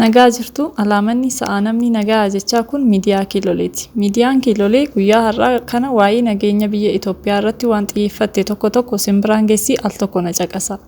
Nagaa jirtu alaamanni sa'aa namni nagaa jechaa kun miidiyaa kiiloleeti. Miidiyaan kiilolee guyyaa har'aa kana waa'ee nageenya biyya Itoophiyaa irratti waan xiyyeeffatte tokko tokko simbiraan geessii al tokko na caqasa.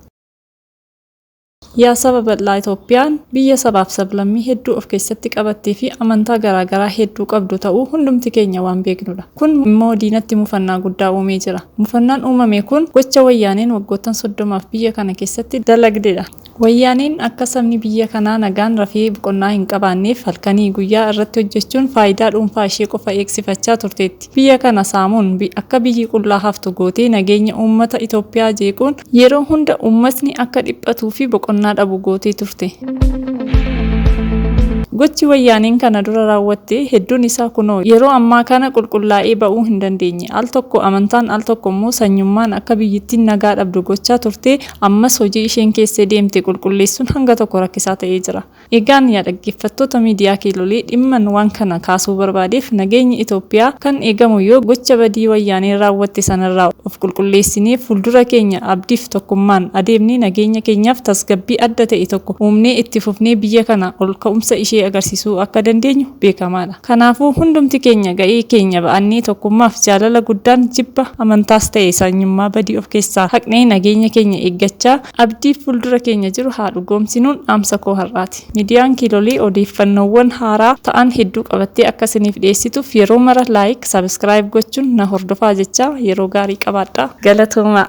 Yaa saba bal'aa Itoophiyaan biyya sabaaf sablammii hedduu of keessatti qabattee fi amantaa garaa garaa hedduu qabdu ta'uu hundumti keenya waan beeknudha. Kun immoo diinatti mufannaa guddaa uumee jira. Mufannaan uumame kun gocha Wayyaaneen waggoottan 30f biyya kana keessatti dalagdedha. Wayyaaneen akka sabni biyya kanaa nagaan rafee boqonnaa hin qabaanneef halkanii guyyaa irratti hojjechuun faayidaa dhuunfaa ishee qofa eegsifachaa turteetti. Biyya kana saamuun akka biyyi qullaa haftu gootee nageenya uummata Itoophiyaa jeequun Yeroo hunda uummatni akka dhiphatuu fi boqonnaa dhabu gootee turte. Gochi Wayyaaneen kana dura raawwatte hedduun isaa kunoo yeroo ammaa kana qulqullaa'ee ba'uu hin dandeenye. Al tokko amantaan al tokko immoo sanyummaan akka biyyittiin nagaa dhabdu gochaa turte ammas hojii isheen keessee deemte qulqulleessuun hanga tokko rakkisaa ta'ee jira. Egaan yaa dhaggeeffattoota miidiyaa Kiilolii dhimman waan kana kaasuu barbaadeef nageenyi Itoophiyaa kan eegamu yoo gocha badii wayyaaneen raawwatte sanarraa of qulqulleessinee fuuldura keenya abdiif tokkummaan adeemnee nageenya keenyaaf tasgabbii adda ta'e tokko uumnee itti fufnee biyya kana ol ka'umsa ishee agarsiisuu akka dandeenyu beekamaadha. Kanaafuu hundumti keenya ga'ee keenya ba'annee tokkummaaf jaalala guddaan jibba amantaas ta'e sanyummaa badii of keessaa haqnee nageenya keenya eeggachaa Abdii fuuldura keenya jiru haa dhugoomsinuun dhaamsa koo har'aati. Midiyaan Kiilolii odeeffannoowwan haaraa ta'an hedduu qabattee akka isiniif dhiyeessituuf yeroo mara like, subscribe gochuun na hordofaa jechaa yeroo gaarii qabaadhaa. Galatoomaa!